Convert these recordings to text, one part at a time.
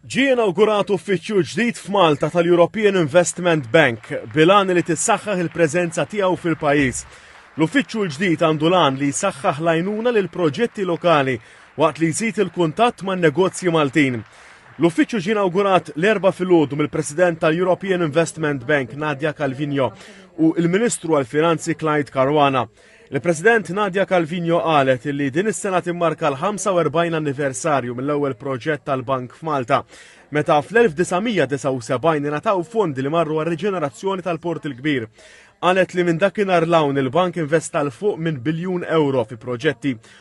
Ġie inawgurat uffiċċju ġdid f'Malta tal-European Investment Bank bilan li tissaħħaħ il-preżenza tiegħu fil-pajjiż. L-uffiċċju l-ġdid għandu lan li jsaħħaħ l-għajnuna lil proġetti lokali waqt li jżid il-kuntatt man negozji Maltin. L-uffiċċju ġie inawgurat l-erba filgħodu mill-President tal-European Investment Bank Nadia Calvino u l-Ministru għall-Finanzi Clyde Caruana. Il-President Nadia Calvino qalet li din is-sena timmarka l-45 anniversarju mill-ewwel proġett tal-Bank f'Malta, meta fl-1979 ingħataw fondi li marru għar-riġenerazzjoni tal-Port il-Kbir. Qalet li minn dakinhar l-hawn il-bank investa l fuq minn biljun euro fi proġetti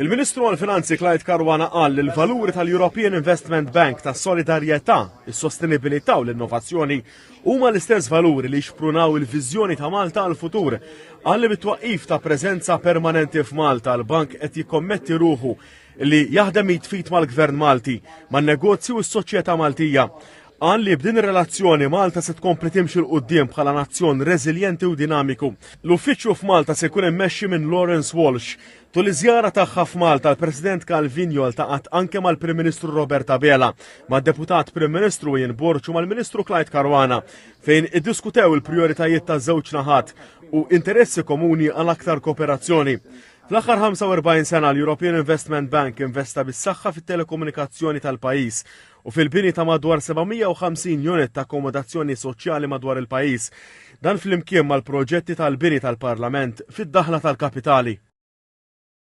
Il-Ministru għall-Finanzi Clyde Karwana qal li l-valuri tal-European Investment Bank ta' solidarjetà, is-sostenibilità u l-innovazzjoni huma l-istess valuri li xprunaw il-viżjoni ta' Malta għall-futur. Qal li bit-twaqqif ta' preżenza permanenti f'Malta l-bank qed jikkommetti ruħu li jaħdem jitfit mal-Gvern Malti, man-negozju u s-soċjetà Maltija. Qal li b'din ir-relazzjoni Malta se tkompli timxi l qudiem bħala nazzjon reżiljenti u dinamiku. L-uffiċċju f'Malta se jkun immexxi minn Lawrence Walsh, Tul iż-żjara tagħha f'Malta, l-President Calvinio ltaqat anke mal-Prim Ministru Robert Abela, mad-Deputat Prim Ministru Ian Borg u mal-Ministru Clyde Caruana, fejn iddiskutew il-prijoritajiet taż-żewġ naħat u interessi komuni għal aktar kooperazzjoni. Fl-aħħar 45 sena l-European Investment Bank investa bis-saħħa fit-telekomunikazzjoni tal-pajjiż u fil-bini ta' madwar 750 unit ta' akkomodazzjoni soċjali madwar il-pajjiż. Dan flimkien mal-proġetti tal-bini tal-Parlament fid-daħla tal-Kapitali.